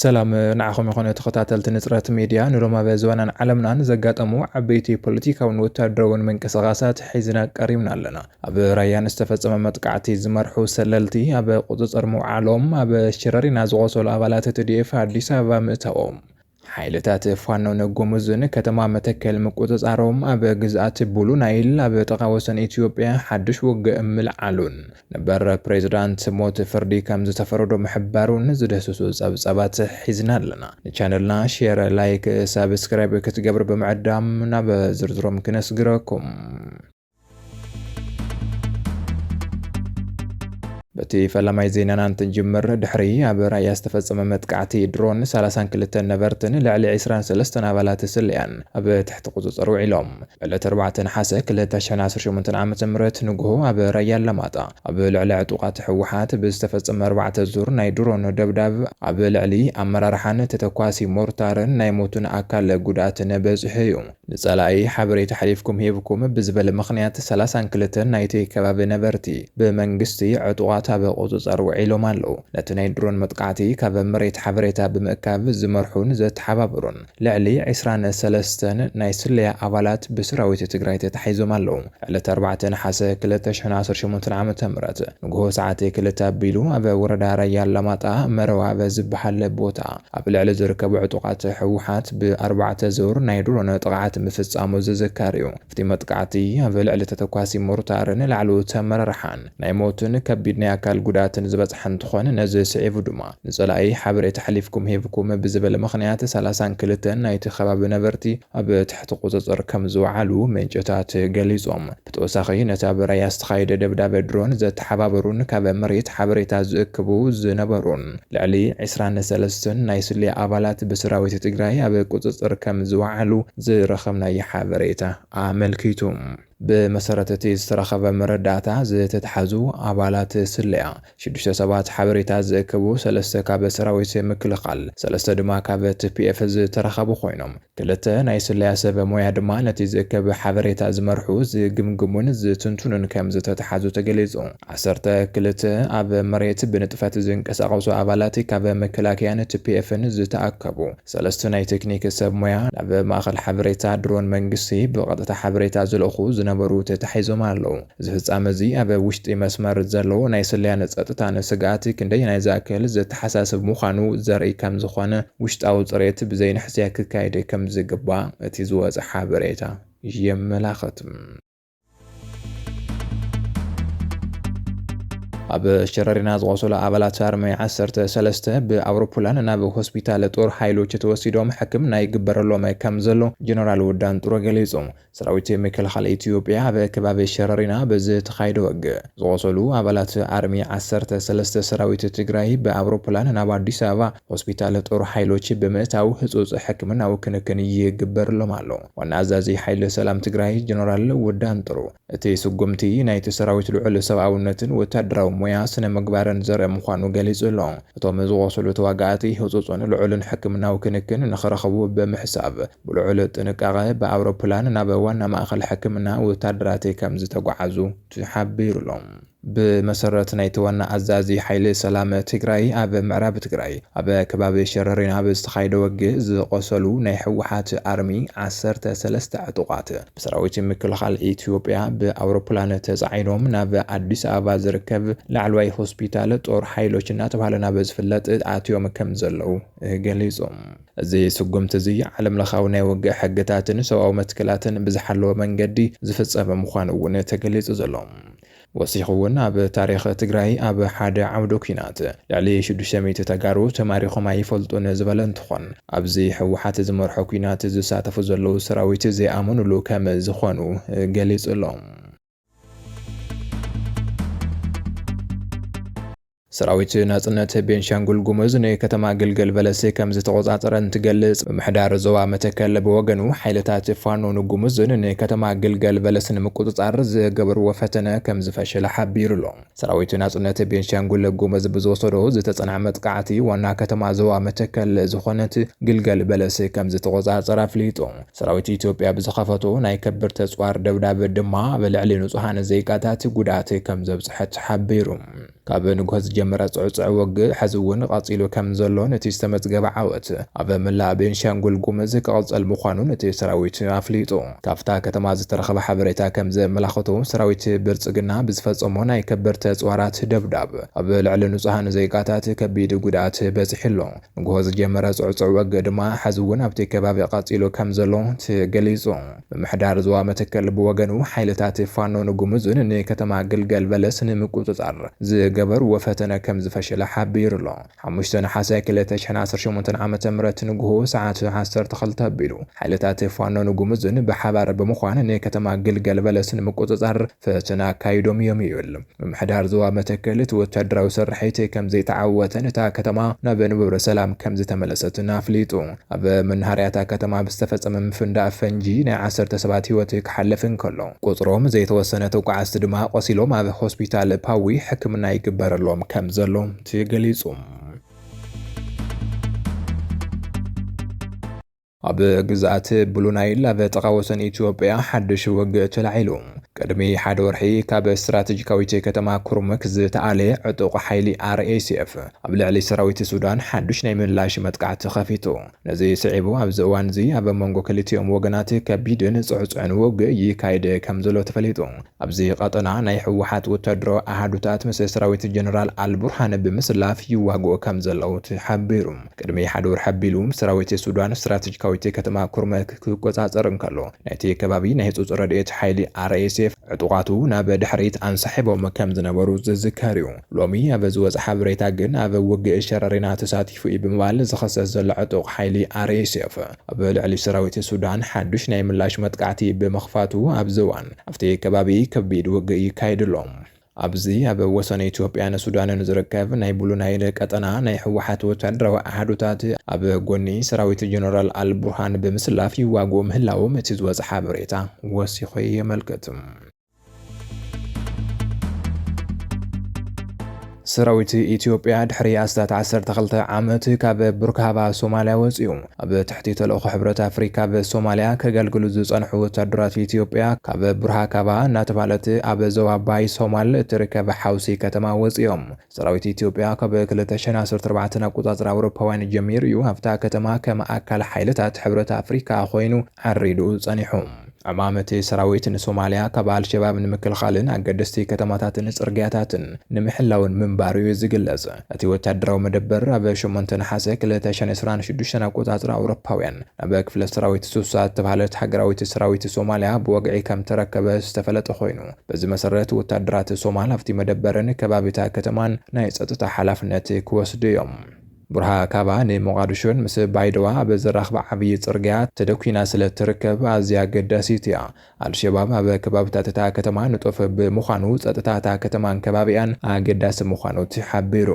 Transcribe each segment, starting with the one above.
ሰላም ንዓኹም ይኾነ ተኸታተልቲ ንጽረት ሚድያ ንሎም ኣብ ዞባናን ዓለምናን ዘጋጠሙ ዓበይቲ ፖለቲካውን ወታደራውን ምንቅስቓሳት ሒዝና ቀሪብና ኣለና። ኣብ ራያን ዝተፈጸመ መጥቃዕቲ ዝመርሑ ሰለልቲ ኣብ ቁጽጽር ምውዓሎም፣ ኣብ ሽረሪና ዝቖሰሉ ኣባላት ትዲኤፍ ኣዲስ ኣበባ ምእታዎም፣ ሓይልታት ፋኖ ንጎሙዝ ንከተማ መተከል ምቁጽጻሮም፣ ኣብ ግዝኣት ቡሉ ናይል ኣብ ጥቓ ወሰን ኢትዮጵያ ሓድሽ ውግእ ምልዓሉን ነበር ፕሬዝዳንት ሞት ፍርዲ ከምዝተፈረዶ ምሕባሩን ዝድህስሱ ጸብጻባት ሒዝና ኣለና። ንቻነልና ሼር፣ ላይክ፣ ሳብስክራይብ ክትገብሩ ብምዕዳም ናብ ዝርዝሮም ክነስግረኩም። በቲ ፈላማይ ዜናና እንትንጅምር ድሕሪ ኣብ ራያ ዝተፈጸመ መጥቃዕቲ ድሮን 32 ነበርትን ልዕሊ 23 ኣባላት ስለያን ኣብ ትሕቲ ቁጽጽር ውዒሎም ዕለት 4 ነሓሰ 2018 ዓ ም ንግሆ ኣብ ራያ ኣላማጣ ኣብ ልዕሊ ዕጡቓት ህወሓት ብዝተፈጸመ ኣርባዕተ ዙር ናይ ድሮን ደብዳብ ኣብ ልዕሊ ኣመራርሓን ተተኳሲ ሞርታርን ናይ ሞትን ኣካል ጉድኣትን በጽሑ እዩ ንጸላኢ ሓበሬታ ኣሕሊፍኩም ሂብኩም ብዝበለ ምኽንያት ሰላሳን ክልተን ናይቲ ከባቢ ነበርቲ ብመንግስቲ ዕጡቓት ኣብ ቁጽጸር ውዒሎም ኣለዉ። ነቲ ናይ ድሮን መጥቃዕቲ ካብ መሬት ሓበሬታ ብምእካብ ዝመርሑን ዘተሓባበሩን ልዕሊ ዕስራን ሰለስተን ናይ ስለያ ኣባላት ብሰራዊት ትግራይ ተታሒዞም ኣለዉ። ዕለት ኣርባዕተ ነሓሰ ክልተ ሽሕን ዓሰርተ ሸሞንተን ዓመተ ምህረት ንጉሆ ሰዓት ክልተ ኣቢሉ ኣብ ወረዳ ራያ ኣላማጣ መረዋ ኣብ ዝበሃል ቦታ ኣብ ልዕሊ ዝርከቡ ዕጡቓት ህወሓት ብኣርባዕተ ዙር ናይ ድሮን ጥቕዓት ምፍፃሙ ዝዝከር እዩ። ኣብቲ መጥቃዕቲ ኣብ ልዕሊ ተተኳሲ ሞርታርን ላዕለዎት ኣመራርሓን ናይ ሞትን ከቢድ ናይ ኣካል ጉድኣትን ዝበፅሐ እንትኾን ነዚ ስዒቡ ድማ ንፀላኢ ሓበሬታ ኣሕሊፍኩም ሂብኩም ብዝብል ምኽንያት ሰላሳን ክልተን ናይቲ ከባቢ ነበርቲ ኣብ ትሕቲ ቁፅፅር ከምዝወዓሉ ምንጭታት ገሊፆም። ብተወሳኺ ነቲ ኣብ ራያ ዝተኻየደ ደብዳበ ድሮን ዘተሓባበሩን ካብ መሬት ሓበሬታ ዝእክቡ ዝነበሩን ልዕሊ ዕስራን ሰለስተን ናይ ስለያ ኣባላት ብሰራዊት ትግራይ ኣብ ቁፅፅር ከም ዝወዓሉ ዝረኸብናዮ ሓበሬታ ኣመልኪቱ። ብመሰረት እቲ ዝተረኸበ መረዳእታ ዝተትሓዙ ኣባላት ስለያ ሽዱሽተ ሰባት ሓበሬታ ዝእክቡ፣ ሰለስተ ካብ ሰራዊት ምክልኻል፣ ሰለስተ ድማ ካብ ትፒኤፍ ዝተረኸቡ ኮይኖም፣ ክልተ ናይ ስለያ ሰብ ሞያ ድማ ነቲ ዝእከብ ሓበሬታ ዝመርሑ፣ ዝግምግሙን ዝትንትኑን ከምዝተትሓዙ ተገሊፁ። ዓሰርተ ክልተ ኣብ መሬት ብንጥፈት ዝንቀሳቐሱ ኣባላት ካብ መከላከያን ትፒኤፍን ዝተኣከቡ፣ ሰለስተ ናይ ቴክኒክ ሰብ ሞያ፣ ናብ ማእኸል ሓበሬታ ድሮን መንግስቲ ብቐጥታ ሓበሬታ ዝልእኹ ዝነበሩ ተታሒዞም ኣለው። እዚ ፍጻመ እዚ ኣብ ውሽጢ መስመር ዘሎ ናይ ስለያን ጸጥታን ስግኣት ክንደየናይ ዝኣክል ዘተሓሳስብ ምዃኑ ዘርኢ ከም ዝኾነ ውሽጣዊ ጽሬት ብዘይንሕስያ ክካየድ ከም ዝግባእ እቲ ዝወጸ ሓበሬታ የመላኽት። ኣብ ሸረሪና ዝቖሰሉ ኣባላት ኣርሚ ዓሰርተ ሰለስተ ብኣውሮፕላን ናብ ሆስፒታል ጦር ሓይሎች ተወሲዶም ሕክምና ይግበረሎም ከም ዘሎ ጀነራል ወዳንጡረ ገሊጹ። ሰራዊት ምክልኻል ኢትዮጵያ ኣብ ከባቢ ሸረሪና ብዝተኻየደ ወግእ ዝቖሰሉ ኣባላት ኣርሚ ዓሰርተ ሰለስተ ሰራዊት ትግራይ ብኣውሮፕላን ናብ ኣዲስ ኣበባ ሆስፒታል ጦር ሓይሎች ብምእታው ህፁፅ ሕክምናዊ ክንክን ይግበርሎም ኣሎ ዋና ኣዛዚ ሓይሊ ሰላም ትግራይ ጀነራል ወዳንጥሩ እቲ ስጉምቲ ናይቲ ሰራዊት ልዑል ሰብኣውነትን ወታደራዊ ሞያ ስነምግባርን ዘርኢ ምዃኑ ገሊፁ ኣሎ። እቶም ዝቖሰሉ ተዋጋእቲ ህፁፅን ልዑልን ሕክምናዊ ክንክን ንኽረኽቡ ብምሕሳብ፣ ብልዑል ጥንቃቐ ብኣውሮፕላን ናብ ዋና ማእኸል ሕክምና ወታደራት ከም ዝተጓዓዙ ተሓቢሩ ኣሎ። ብመሰረት ናይቲ ዋና ኣዛዚ ሓይሊ ሰላም ትግራይ ኣብ ምዕራብ ትግራይ ኣብ ከባቢ ሸረሪን ኣብ ዝተኻየደ ወግእ ዝቖሰሉ ናይ ህወሓት ኣርሚ ዓሰርተ ሰለስተ ዕጡቓት ብሰራዊት ምክልኻል ኢትዮጵያ ብኣውሮፕላን ተፃዒኖም ናብ ኣዲስ ኣበባ ዝርከብ ላዕለዋይ ሆስፒታል ጦር ሓይሎች እናተብሃለ ናብ ዝፍለጥ ኣትዮም ከም ዘለው ገሊፆም። እዚ ስጉምቲ እዚ ዓለምለኻዊ ናይ ውግእ ሕግታትን ሰብኣዊ መትከላትን ብዝሓለወ መንገዲ ዝፍጸመ ምዃኑ እውን ተገሊጹ ዘሎ። ወሲኹ እውን ኣብ ታሪኽ ትግራይ ኣብ ሓደ ዓውደ ኲናት ልዕሊ ሽዱሽተ ሚእቲ ተጋሩ ተማሪኾም ኣይፈልጡን ዝበለ እንትኾን ኣብዚ ህወሓት ዝመርሖ ኲናት ዝሳተፉ ዘለዉ ሰራዊት ዘይኣመኑሉ ከም ዝኾኑ ገሊጹ ኣሎ። ሰራዊት ናጽነት ቤንሻንጉል ጉሙዝ ንከተማ ግልገል በለስ ከም ዝተቆጻጸረ እንትገልጽ፣ ምምሕዳር ዞባ መተከል ብወገኑ ሓይልታት ፋኖን ጉሙዝን ንከተማ ግልገል በለስ ንምቁጽጻር ዝገበርዎ ፈተነ ከም ዝፈሸለ ሓቢሩ ኣሎ። ሰራዊት ናጽነት ቤንሻንጉል ጉምዝ ብዝወሰዶ ዝተጸንዐ መጥቃዕቲ ዋና ከተማ ዞባ መተከል ዝኾነት ግልገል በለስ ከም ዝተቖጻጸረ ኣፍሊጡ። ሰራዊት ኢትዮጵያ ብዝኸፈቶ ናይ ከቢድ ተጽዋር ደብዳብ ድማ ኣብ ልዕሊ ንጹሃን ዜጋታት ጉድኣት ከም ዘብጽሐ ተሓቢሩ። ካብ ንግሆ ዝጀመረ ጽዕጹዕ ውግእ ሕዚ እውን ቐጺሉ ከም ዘሎን እቲ ዝተመዝገበ ዓወት ኣብ መላእ ቤንሻንጉል ጉምዝ ክቕጽል ምዃኑን እቲ ሰራዊት ኣፍሊጡ። ካብታ ከተማ ዝተረኸበ ሓበሬታ ከምዘመላኸቶ፣ ሰራዊት ብልፅግና ብዝፈፀሞ ናይ ከበድቲ ኣፅዋራት ደብዳብ ኣብ ልዕሊ ንፁሃን ዜጋታት ከቢድ ጉድኣት በፂሑ ኣሎ። ንጉሆ ዝጀመረ ፅዕፁዕ ወግእ ድማ ሐዚ እውን ኣብቲ ከባቢ ቐፂሉ ከምዘሎ ተገሊፁ። ምምሕዳር ዞባ መተከል ብወገኑ ሓይልታት ፋኖን ጉሙዝን ንከተማ ግልገል በለስ ንምቁፅፃር ዝገበሩዎ ፈተነ ከምዝፈሸለ ሓቢሩ ኣሎ። ሓሙሽተ ነሓሰ ክልተ ሽሕን ዓሰርተ ሸሞንተን ዓመተ ምህረት ንጉሆ ሰዓት ዓሰርተ ክልተ ኣቢሉ ሓይልታት ፋኖን ጉሙዝን ብሓባር ብምዃን ንከተማ ግልገል በለስ ንምቁጽጻር ፈተና ኣካይዶም እዮም ይብል ምምሕዳር ዞባ መተከል። እቲ ወታደራዊ ስርሒት ከምዘይተዓወተን እታ ከተማ ናብ ንቡር ሰላም ከምዝተመለሰትን ኣፍሊጡ። ኣብ መናሃርያ እታ ከተማ ብዝተፈጸመ ምፍንዳእ ፈንጂ ናይ ዓሰርተ ሰባት ህይወት ክሓልፍ እንከሎ ቁጽሮም ዘይተወሰነ ተጓዓዝቲ ድማ ቆሲሎም ኣብ ሆስፒታል ፓዊ ሕክምና ይግበረሎም ከምዘሎ እቲ ገሊጹ። ኣብ ግዝኣት ብሉ ናይል ኣብ ጥቓ ወሰን ኢትዮጵያ ሓድሽ ውግእ ተላዒሉ። ቅድሚ ሓደ ወርሒ ካብ ስትራቴጂካዊት ከተማ ኩርሙክ ዝተኣለ ዕጡቕ ሓይሊ RSF ኣብ ልዕሊ ሰራዊት ሱዳን ሓድሽ ናይ ምላሽ መጥቃዕቲ ከፊቱ። ነዚ ስዒቡ ኣብዚ እዋንዚ ኣብ መንጎ ክልቲኦም ወገናት ከቢድን ጽዕጹዕን ውግእ ይካይድ ከም ዘሎ ተፈሊጡ። ኣብዚ ቐጠና ናይ ህወሓት ወታደራዊ ኣሃዱታት ምስ ሰራዊት ጀነራል ኣልቡርሃን ብምስላፍ ይዋግኡ ከምዘለዉ ተሓቢሩ። ቅድሚ ሓደ ወርሒ ኣቢሉ ሰራዊት ሱዳን ስትራተጂካዊት ከተማ ኩርመክ ክቆፃፀር እንከሎ ናይቲ ከባቢ ናይ ህፁፅ ረድኤት ሓይሊ፣ RSF፣ ዕጡቓቱ ናብ ድሕሪት ኣንሳሒቦም ከምዝነበሩ ዝዝከር እዩ። ሎሚ ኣብ ዝወፀ ሓበሬታ ግን ኣብ ውግእ ሸረሪና ተሳቲፉ እዩ ብምባል ዝኽሰስ ዘሎ ዕጡቕ ሓይሊ፣ RSF፣ ኣብ ልዕሊ ሰራዊት ሱዳን ሓዱሽ ናይ ምላሽ መጥቃዕቲ ብምኽፋቱ ኣብዚ እዋን ኣብቲ ከባቢ ከቢድ ውግእ ይካየድ ኣሎ። ኣብዚ ኣብ ወሰን ኢትዮጵያን ሱዳንን ዝርከብ ናይ ብሉ ናይል ቀጠና ናይ ህወሓት ወታደራዊ ኣሃዱታት ኣብ ጎኒ ሰራዊት ጀነራል ኣልቡርሃን ብምስላፍ ይዋግኡ ምህላዎም እቲ ዝወጸ ሓበሬታ ወሲኹ የመልክት። ሰራዊት ኢትዮጵያ ድሕሪ ኣስታት ዓሰርተ ክልተ ዓመት ካብ ቡርካባ ሶማልያ ወፂኡ። ኣብ ትሕቲ ተልእኾ ሕብረት ኣፍሪካ ኣብ ሶማልያ ከገልግሉ ዝፀንሑ ወታደራት ኢትዮጵያ ካብ ቡርሃካባ እናተብሃለት ኣብ ዞባ ባይ ሶማል እትርከብ ሓውሲ ከተማ ወፂኦም። ሰራዊት ኢትዮጵያ ካብ ክልተ ሽሕን ዓሰርተ ኣርባዕተን ኣቆጻጽራ ኣውሮፓውያን ጀሚሩ እዩ ኣብታ ከተማ ከም ኣካል ሓይልታት ሕብረት ኣፍሪካ ኮይኑ ዓሪዱ ጸኒሑ። ዕማም እቲ ሰራዊት ንሶማልያ ካብ ኣልሸባብ ንምክልኻልን ኣገደስቲ ከተማታትን ጽርግያታትን ንምሕላውን ምንባሩ እዩ ዝግለጽ። እቲ ወተሃደራዊ መደበር ኣብ ሸሞንተ ነሓሰ ክልተ ሽሕን ዕስራን ሽዱሽተን ኣቆጻጽራ ኣውሮፓውያን ናብ ክፍለ ሰራዊት ሱሳ እተብሃለት ሃገራዊት ሰራዊት ሶማልያ ብወግዒ ከምተረከበ ዝተፈለጠ ኮይኑ፣ በዚ መሰረት ወታደራት ሶማል ኣብቲ መደበርን ከባቢ እታ ከተማን ናይ ጸጥታ ሓላፍነት ክወስዱ እዮም። ቡርሃካባ ንሞቓድሾን ምስ ባይደዋ ኣብ ዘራኽባ ዓብዪ ጽርግያ ተደኲና ስለ እትርከብ ኣዝያ ኣገዳሲት እያ። ኣልሸባብ ኣብ ከባብታት እታ ከተማ ንጡፍ ብምዃኑ ጸጥታ እታ ከተማን ከባቢኣን ኣገዳሲ ምዃኑ ተሓቢሩ።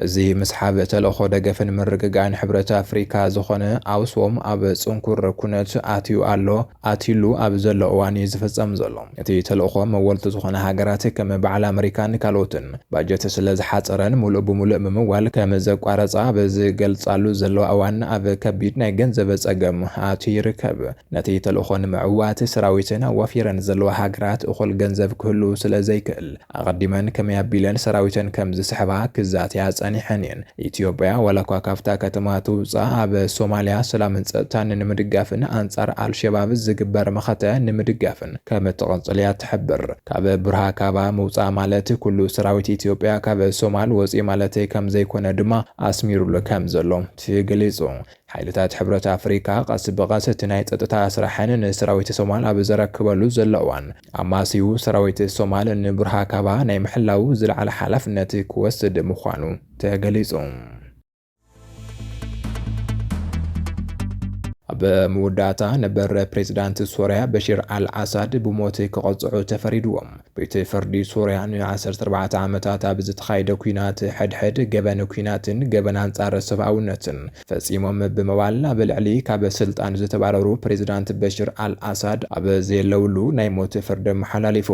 እዚ ምስሓብ ተልእኾ ደገፍን ምርግጋእን ሕብረት ኣፍሪካ ዝኾነ ኣውስዎም ኣብ ፅንኩር ኩነት ኣትዩ ኣሎ፣ ኣትዩሉ ኣብ ዘሎ እዋን እዩ ዝፍፀም ዘሎ። እቲ ተልእኾ መወልቲ ዝኾና ሃገራት ከም በዓል ኣመሪካን ካልኦትን ባጀት ስለዝሓፀረን ሙሉእ ብሙሉእ ምምዋል ከምዘቋረፃ ኣብ ዝገልፃሉ ዘለዋ እዋን ኣብ ከቢድ ናይ ገንዘብ ፀገም ኣትዩ ይርከብ። ነቲ ተልእኾ ንምዕዋት ሰራዊተን ኣዋፊረን ዘለዋ ሃገራት እኹል ገንዘብ ክህሉ ስለዘይክእል ኣቐዲመን ከመይ ኣቢለን ሰራዊተን ከም ዝስሕባ ክዛተያ ጸኒሐን እየን። ኢትዮጵያ ዋላኳ ካብታ ከተማ ትውጻእ ኣብ ሶማልያ ሰላምን ጸጥታን ንምድጋፍን ኣንጻር ኣልሸባብ ዝግበር መኸተ ንምድጋፍን ከም እትቕጽል እያ እትሕብር። ካብ ቡርሃካባ ምውጻእ ማለት ኩሉ ሰራዊት ኢትዮጵያ ካብ ሶማል ወጽኢ ማለተይ ከም ዘይኮነ ድማ ኣስሚሩሉ ከም ዘሎ ትገሊጹ። ሓይልታት ሕብረት ኣፍሪካ ቀስ ብቐስ እቲ ናይ ጸጥታ ስራሐን ንሰራዊት ሶማል ኣብ ዘረክበሉ ዘሎ እዋን፣ ኣማስይኡ ሰራዊት ሶማል ንቡርሃካባ ናይ ምሕላዉ ዝለዓለ ሓላፍነት ክወስድ ምዃኑ ተገሊጹ። ኣብ መወዳእታ ነበር ፕሬዝዳንት ሶርያ በሽር ኣል ኣሳድ ብሞት ክቐጽዑ ተፈሪድዎም። ቤት ፍርዲ ሶርያ ን14 ዓመታት ኣብ ዝተኻየደ ኩናት ሕድሕድ ገበን ኩናትን ገበን ኣንጻር ሰብኣውነትን ፈጺሞም ብምባል ኣብ ልዕሊ ካብ ስልጣን ዝተባረሩ ፕሬዝዳንት በሽር ኣል ኣሳድ ኣብ ዘየለውሉ ናይ ሞት ፍርዲ ኣመሓላሊፉ።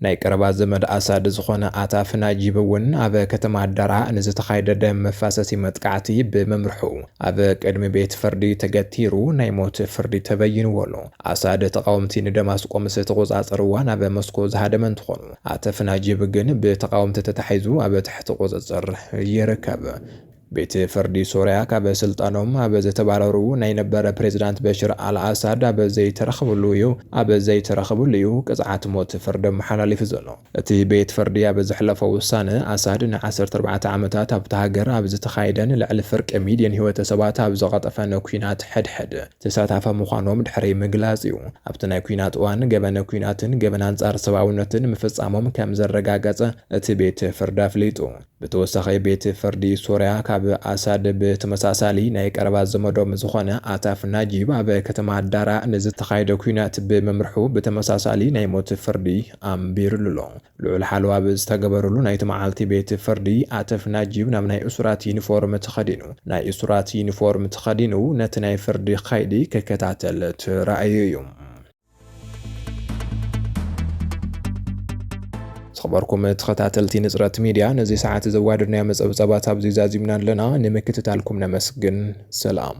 ናይ ቀረባ ዘመድ ኣሳድ ዝኾነ ኣታፍ ናጂብ እውን ኣብ ከተማ ዳራእ ንዝተኻየደ ደም መፋሰሲ መጥቃዕቲ ብምምርሑ ኣብ ቅድሚ ቤት ፍርዲ ተገቲሩ ናይ ሞት ፍርዲ ተበይንዎ ኣሎ። ኣሳድ ተቓወምቲ ንደማስቆ ምስ ተቖጻጸርዋ ናብ ሞስኮ ዝሃደመ እንትኾኑ ኣተፍ ናጂብ ግን ብተቓወምቲ ተታሒዙ ኣብ ትሕቲ ቁጽጽር ይርከብ። ቤት ፍርዲ ሶርያ ካብ ስልጣኖም ኣብ ዝተባረሩ ናይ ነበር ፕሬዝዳንት በሽር ኣል ኣሳድ ኣብ ዘይተረኽብሉ እዩ ኣብ ዘይተረኽብሉ እዩ ቅፅዓት ሞት ፍርዲ ኣመሓላሊፉ ዘሎ። እቲ ቤት ፍርዲ ኣብ ዘሕለፎ ውሳነ፣ ኣሳድ ን ዓሰርተ ኣርባዕተ ዓመታት ኣብታ ሃገር ኣብ ዝተኻየደን ልዕሊ ፍርቂ ሚልዮን ህይወተ ሰባት ኣብ ዝቐጠፈን ኲናት ሕድሕድ ተሳታፊ ምዃኖም ድሕሪ ምግላፅ እዩ ኣብቲ ናይ ኲናት እዋን ገበን ኲናትን ገበን ኣንፃር ሰብኣውነትን ምፍፃሞም ከምዘረጋገፀ እቲ ቤት ፍርዲ ኣፍሊጡ። ብተወሳኺ ቤት ፍርዲ ሶርያ ካብ ኣሳድ ብተመሳሳሊ ናይ ቀረባ ዘመዶም ዝኾነ ኣታፍ ናጂብ ኣብ ከተማ ዳራ ንዝተኻየደ ኲናት ብምምርሑ ብተመሳሳሊ ናይ ሞት ፍርዲ ኣንቢርሉ ኣሎ። ልዑል ሓለዋ ኣብ ዝተገበረሉ ናይቲ መዓልቲ ቤት ፍርዲ፣ ኣተፍ ናጂብ ናብ ናይ እሱራት ዩኒፎርም ተኸዲኑ ናይ እሱራት ዩኒፎርም ተኸዲኑ ነቲ ናይ ፍርዲ ከይዲ ክከታተል ተራእዩ እዩ። ዝኸበርኩም ተኸታተልቲ ንጽረት ሚድያ ነዚ ሰዓት ዘዋደድናዮም ጸብጻባት ኣብዚ ዛዚምና ኣለና። ንምክትታልኩም ነመስግን። ሰላም